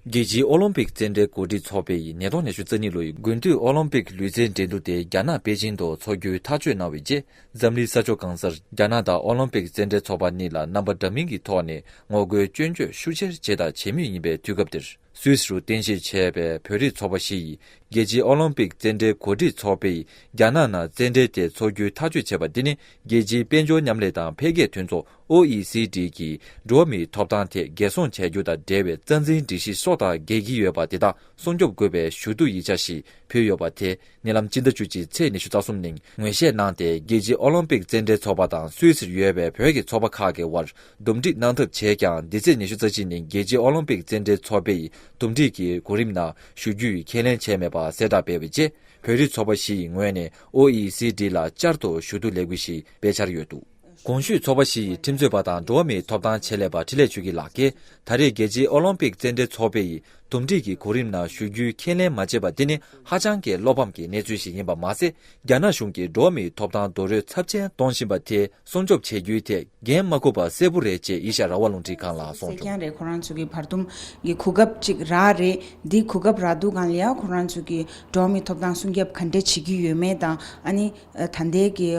རྒྱལ་སྤྱིའི་ཨོ་ལོམ་པིག་རྩེད་འགྲན་གོ་སྒྲིག་ཚོགས་པས་ཉིས་སྟོང་ཉེར་བཅུ་རྩ་གཉིས་ལོའི་དགུན་དུས་ཨོ་ལོམ་པིག་ལུས་རྩེད་འགྲན་བསྡུ་སྟེ་རྒྱ་ནག་པེ་ཅིན་དུ་འཚོགས་རྒྱུའི་ཐག་གཅོད་གནང་བའི་རྗེས་འཛམ་གླིང་ས་ཕྱོགས་གང་སར་རྒྱ་ནག་དང་ཨོ་ལོམ་པིག་རྩེད་འགྲན་ཚོགས་པ་གཉིས་ལ་རྣམ་པ་འདྲ་མིན་གྱི་ཐོག་ནས་ངོ་རྒོལ་སྐྱོན་བརྗོད་ཤུགས་ཆེར་བྱས་དང་བྱེད་མུས་ཡིན་པའི་དུས་སྐབས་འདིར། སུད་སི་རུ་རྟེན་གཞི་བྱས་པའི་བོད་རིགས་ཚོགས་པ་ཞིག་གིས་རྒྱལ་སྤྱིའི་ཨོ་ལོམ་པིག་རྩེད་འགྲན་གོ་སྒྲིག་ཚོགས་པས་རྒྱ་ནག་ནང་རྩེད་འགྲན་དེ་འཚོགས་རྒྱུའི་ཐག་གཅོད་བྱས་པ་འདི་ནི་རྒྱལ་སྤྱིའི་དཔལ་འབྱོར་མཉམ་ལས་དང་འཕེལ་རྒྱས་མཐུན་ཚོགས OECD ཀྱིས་འགྲོ་བ་མིའི་ཐོབ་ཐང་ཐད་འགན་སྲུང་བྱ་རྒྱུ་དང་འབྲེལ་བའི་རྩ་འཛིན་སྒྲིག་གཞི་སོགས་དང་འགལ་གྱི་ཡོད་པ་དེ་དག་སྲུང་སྐྱོབ་དགོས་པའི་ཞུ་གཏུག་ཡིག་ཆ་ཞིག་ཕུལ་ཡོད་པ་དེ་ནི་ལམ་སྤྱི་ཟླ་བཅུ་གཅིག་ཚེས་ཉི་ཤུ་རྩ་གསུམ་ཉིན་ངོས་བཞེས་གནང་སྟེ་རྒྱལ་སྤྱིའི་ཨོ་ལིམ་པིག་རྩེད་འགྲན་ཚོགས་པ་དང་སུད་སིར་ཡོད་པའི་བོད་ཀྱི་ཚོགས་པ་ཁག་གི་དབར་འདུམ་སྒྲིག་གནང་ཐབས་བྱས་ཀྱང་འདི་ཚེས་ཉི་ཤུ་རྩ་གཅིག་ཉིན་རྒྱལ་སྤྱིའི་ཨོ་ལིམ་པིག་རྩེད་འགྲན་ཚོགས་པས་འདུམ་སྒྲིག་གི་གོ་རིམ་ནང་ཞུགས་རྒྱུའི་ཁས་ལེན་བྱས་མེད་པ་གསལ་བསྒྲགས་སྤེལ་བའི་རྗེས་བོད་རིགས་ཚོགས་པ་བཞི་ཡི་ངོས་ནས OECD ལ་བསྐྱར་དུ་ཞུ་གཏུག་ལས་འགུལ་ཞིག་སྤེལ་འཆར་ཡོད་འདུག། གོང་ཞུས་ཚོགས་པ་བཞི་ཡི་ཁྲིམས་རྩོད་པ་དང་འགྲོ་བ་མིའི་ཐོབ་ཐང་ཆེད་ལས་པ་ཁྲི་ལས་ཆོས་སྐྱིད་ལགས་ཀྱིས་ད་རེས་རྒྱལ་སྤྱིའི་ཨོ་ལོམ་པིག་རྩེད་འགྲན་ཚོགས་པའི་ཡི་དུམ་སྒྲིག་གི་གོ་རིམ་ནང་ཞུགས་རྒྱུའི་ཁས་ལེན་མ་བྱས་པ་འདི་ནི་ཧ་ཅང་གི་བློ་ཕམ་གྱི་གནས་ཚུལ་ཞིག་ཡིན་པ་མ་ཟད་རྒྱ་ནག་གཞུང་གིས་འགྲོ་བ་མིའི་ཐོབ་ཐང་རྡོལ་རོལ་ཚབས་ཆེན་གཏོང་བཞིན་པ་དེ་སྲུང་སྐྱོབ་བྱེད་རྒྱུའི་ཐད་འགན་མ་ཁུར་པ་གསལ་པོ་རེད་ཅེས་ཡེ་ཤ་ར་བ་རླུང་འཕྲིན་ཁང་ལ་གསུངས་བྱུང། ཁྱེད་རང་ཚོས་ཀྱི་བར་སྟོང་གི་གོ་སྐབས་ཅིག་རག་རེད། འདི་གོ་སྐབས་རག་འདུག་གང་ལ་ཡང་ཁོང་རང་ཚོས་ཀྱི་འགྲོ་བ་མིའི་ཐོབ་ཐང་སྲུང་སྐྱབས་ག་འདྲ་བྱེད་ཀྱི་ཡོད་མེད་དང་ཨ་ནི། ད་ལྟའི་གི་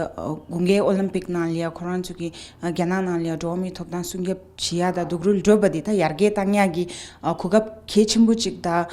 དགུན་ཁའི་ཨོ་ལིམ་པིག་ནང་ལ་ཡང་ཁོ་རང་ཚོ་གི་རྒྱ་ནག་ནང་ལ་ཡང་འགྲོ་བ་མིའི་ཐོབ་ཐང་སྲུང་སྐྱོབ་བྱེད་ཡག་དང་སྡུག་རུལ་བགྲོད་པ་དེ་ད་ཡར་རྒྱས་བཏང་ཡག་གི་གོ་སྐབས་གལ་ཆེན་པོ་ཅིག་དང་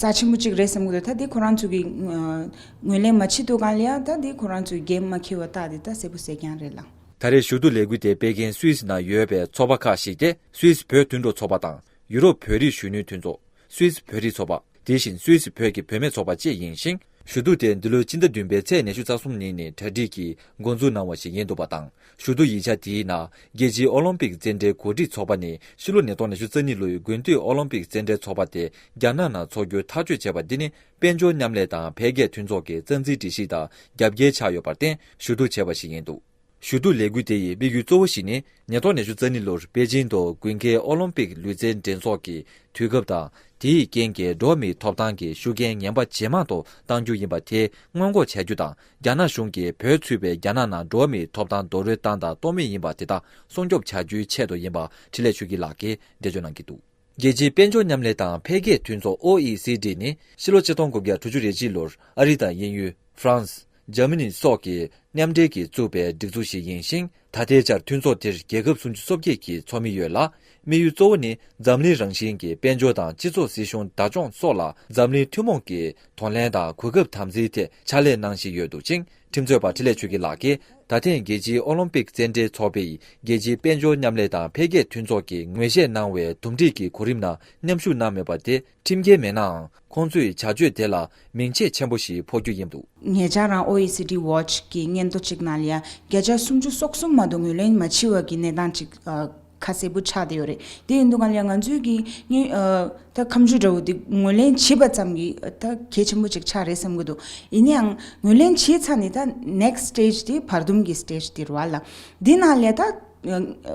རྩ་ཆེན་པོ་ཅིག་རེད་བསམ་གི་འདུག་ད་དེ་ཁོ་རང་ཚོ་གི་ངོས་ལེན་མ་བྱེད་འདུག་གང་ལ་ཡང་ད་དེ་ཁོ་རང་ཚོའི་འགན་མ་འཁྱེར་བ་རྟགས་དེ་ད་གསལ་པོ་གསལ་རྐྱང་རེད་ལ། ད་རེས་ཞུ་གཏུག་ལས་འགུལ་དེ་སྤེལ་མཁན་སུད་སི་ནང་ཡོད་པའི་ཚོགས་པ་ཁག་ཞིག་སྟེ་སུད་སི་བོད་མཐུན་གྲོགས་ཚོགས་པ་དང་ཡུ་རོབ་བོད་རིགས་གཞོན་ནུའི་མཐུན་ཚོགས། སུད་སི་བོད་རིགས་ཚོགས་པ། དེ་བཞིན་སུད་སི་བོད་ཀྱི་བུད་མེད་ཚོགས་པ་བཅས་ཡིན་ཞིང། ཞུ་གཏུག་དེ་འདི་ལོའི་སྤྱི་ཟླ་བདུན་པའི་ཚེས་ཉེར་བཞི་རྩ་གསུམ་ཉིན་ནས་གྲ་སྒྲིག་གིས་འགོ་འཛུགས་གནང་བ་ཞིག་ཡིན་འདུག་པ་དང་ཞུ་གཏུག་ཡིག་ཆ་དེའི་ནང་རྒྱལ་སྤྱིའི་ཨོ་ལོམ་པིག་རྩེད་འགྲན་གོ་སྒྲིག་ཚོགས་པ་ནས་ཕྱི་ལོ་ནས་སྟོང་ཉི་ཤུ་རྩ་གཉིས་ལོའི་དགུན་དུས་ཨོ་ལོམ་པིག་རྩེད་འགྲན་ཚོགས་པ་དེ་རྒྱ་ནག་ནང་འཚོགས་རྒྱུ་ཐག་གཅོད་བྱས་པ་འདི་ནི་དཔལ་འབྱོར་མཉམ་ལས་དང་འཕེལ་རྒྱས་མཐུན་ཚོགས་ཀྱི་རྩ་འཛིན་སྒྲིག་གཞི་དང་རྒྱབ་འགལ་ཆགས་ཡོད་པར་བརྟེན་ཞུ་གཏུག་བྱས་པ་ཞིག་ཡིན་འདུག། ཞུ་གཏུག་ལས་འགུལ་དེ་ཡི་དམིགས་ཡུལ་གཙོ་བོ་ཞིག་ནི་ཉེས་རྡོག་ནས་ཅུ་རྩ་གཉིས་ལོར་པེ་ཅིན་དུ་དགུན་ཁའི་ཨོ་ལོམ་པིག་ལུས་རྩལ་འགྲན་ཚོགས་ཀྱི་དུས་སྐབས་དང་དེ་ཡི་རྐྱེན་གྱིས་འགྲོ་བ་མིའི་ཐོབ་ཐང་གི་ཤུགས་རྐྱེན་ངན་པ་ཇེ་མང་དུ་གཏང་རྒྱུ་ཡིན་པ་དེ་སྔོན་འགོག་བྱ་རྒྱུ་དང་རྒྱ་ནག་གཞུང་གིས་བོད་ཚུད་པའི་རྒྱ་ནག་ནང་འགྲོ་བ་མིའི་ཐོབ་ཐང་རྡོལ་རོལ་བཏང་དང་གཏོང་མུས་ཡིན་པ་དེ་དག་སྲུང་སྐྱོབ་བྱ་རྒྱུའི་ཆེད་དུ་ཡིན་པ་ཁྲི་ལས་ཆོས་སྐྱིད་ལགས་ཀྱིས་འགྲེལ་བརྗོད་གནང་གི་འདུག། རྒྱལ་སྤྱིའི་དཔལ་འབྱོར་མཉམ་ལས་དང་འཕེལ་རྒྱས་མཐུན་ཚོགས OECD ནི་ཕྱི་ལོ་ཆིག་སྟོང་དགུ་བརྒྱ་དྲུག་ཅུ་རེ་གཅིག་ལོར་ཨ་རི་དང་དབྱིན་ཡུལ། France། Germany། སོགས་ཀྱིས་མཉམ་འབྲེལ་གྱིས་བཙུགས་པའི་སྒྲིག་འཛུགས་ཤིག་ཡིན་ཞིང་ད་ལྟའི་ཆར་མཐུན་ཚོགས་དེར་རྒྱལ་ཁབ་སུམ་ཅུ་སོ་བརྒྱད་ཀྱི་ཚོགས་མི་ཡོད་ལ། དམིགས་ཡུལ་གཙོ་བོ་ནི་འཛམ་གླིང་རང་བཞིན་གྱི་དཔལ་འབྱོར་དང་སྤྱི་ཚོགས་སྲིད་གཞུང་བདག་སྐྱོང་སོགས་ལ་འཛམ་གླིང་ཐུན་མོང་གིས་དོ་ལན་དང་གོ་སྐབས་དམ་འཛིན་ཐད་ཕྱག་ལས་གནང་བཞིན་ཡོད་འདུག་ཅིང། ཁྲིམས་རྩོད་པ་ཁྲི་ལས་ཆོས་སྐྱིད་ལགས་ཀྱིས་ད་ཐེངས་རྒྱལ་སྤྱིའི་ཨོ་ལོམ་པིག་རྩེད་འགྲན་ཚོགས་པའི་རྒྱལ་སྤྱིའི་དཔལ་འབྱོར་མཉམ་ལས་དང་འཕེལ་རྒྱས་མཐུན་ཚོགས་ཀྱིས་ངོས་བཞེས་གནང་བའི་དོམ་སྒྲིག་གི་གོ་རིམ་ནང་མཉམ་ཞུགས་གནང་མེད་པ་དེ་ཁྲིམས་འགལ་མེད་ནའང་ཁོང་ཚོས་བྱ་སྤྱོད་དེ་ལ་མིང་ཆད་ཆེན་པོ་ཞིག་འཕོག་རྒྱུ་ཡིན་འདུག། ངེད་ཅག་རང OECD Watch གི་སྙན་ཐོ་གཅིག་ནང་ལ་བརྒྱ་ཆ་སུམ་ཅུ་སོ་གསུམ་མ་གཏོགས་ངོས་ལེན་མ་བྱས་བ་གི་གནས་སྟངས་གཅིག་ཁ་གསལ་པོ་ཆགས་བསྡད་ཡོད་རེད། དེ་ཡིན་དུས་ང་ལ་ང་ཚོའི་གི་གཉིས། ད་ཁམས་ཆུས་དགྲ་བོ་འདི་ངོས་ལེན་བྱེད་པ་ཙམ་གྱི་ད་གལ་ཆེན་པོ་ཅིག་ཆགས་རེད་བསམ་གྱི་འདུག་ཡིན་ན་ཡང་ངོས་ལེན་བྱས་ཚར་ནས་ད next stage དེ་བར་འདུམ་གྱི stage དེར་བ་ལ། དེ་ནང་ལས་ད།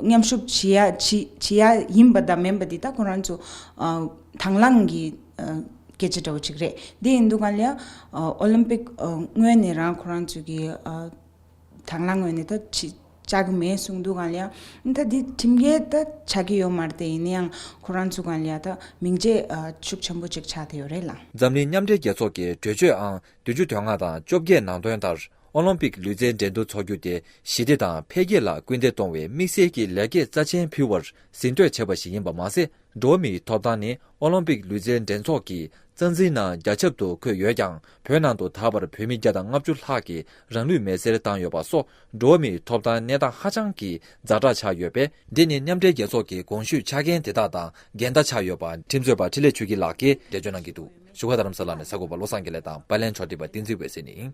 མཉམ་ཞུགས་བྱེད་ཡ་བྱེད་ཡ་ཡིན་པ་དང་མིན་པ་དེ་ད་ཁོ་རང་ཚོ། དང་བླངས་གྱི་སྐད་ཆ་འདྲ་བོ་ཅིག་རེད། དེ་ཡིན་དུས་ང་ལ། Olympic ངོས་ནས་རང་ཁོ་རང་ཚོ་གི། དྲང་ལ་ངོས་ནས་ད་བྱ་གི་མེད་གསུངས་འདུག་ག་ལ་ཡང་ད་འདི་ཁྲིམས་འགལ་ད་བྱ་གི་ཡོད་མ་རེད་དེ་ཡིན་ན་ཡང་ཁོ་རང་ཚོ་ག་ལ་ཡང་ད་མིང་རྗེས་ཤུགས་ཆེན་པོ་གཅིག་ཆགས་ཏེ་ཡོད་རེད་ལ། འཛམ་གླིང་མཉམ་འབྲེལ་རྒྱལ་ཚོགས་ཀྱི་གྲོས་ཆོད་ཨང་བདུན་ཅུ་དོན་ལྔ་དང་བཅོ་བརྒྱད་ནང་དོན་ལྟར་ཨོ་ལོམ་པིག་ལུས་རྩལ་འགྲན་བསྡུར་འཚོགས་རྒྱུ་དེ་ཞི་བདེ་དང་འཕེལ་རྒྱས་ལ་སྐུལ་འདེད་གཏོང་བའི་དམིགས་བསལ་གྱི་ལེགས་སྐྱེས་རྩ་ཆེན་ཕུལ་བར་གཟེངས་བསྟོད་བྱས་པ་ཞིག་ཡིན་པ་མ་ཟད། འགྲོ་བ་མིའི་ཐོབ་ཐང་ནི་ཨོ་ལོམ་པིག་ལུས་རྩལ་འགྲན་ཚོགས་ཀྱི་རྩ་འཛིན་ནང་རྒྱ་ཁྱབ་ཏུ་འཁོད་ཡོད་ཀྱང་བོད་ནང་དུ་ད་བར་བོད་མི་བརྒྱ་དང་ལྔ་བཅུ་ལྷག་གིས་རང་ལུས་མེར་སྲེག་བཏང་ཡོད་པ་སོགས་འགྲོ་བ་མིའི་ཐོབ་ཐང་གནས་སྟངས་ཧ་ཅང་གི་རྫ་དྲག་ཆགས་ཡོད་པས། འདི་ནི་མཉམ་འབྲེལ་རྒྱལ་ཚོགས་ཀྱི་དགོངས་ཞུས་ཆ་རྐྱེན་དེ་དག་དང་འགལ་ཟླ་ཆགས་ཡོད་པ། ཁྲིམས་རྩོད་པ་ཁྲི་ལས་ཆོས་སྐྱིད་ལགས་ཀྱིས། འགྲེལ་བརྗོད་གནང་གི་འདུག་བཞུགས་སྒར་རྡ་རམ་ས་ལ་ནས་ས་གོ་པ་བློ་བཟང་དགེ་ལེགས་དང་པཱི་ལན་མཆོག་བྲིས་པ་བསྟན་འཛིན་འོད་ཟེར་ནི།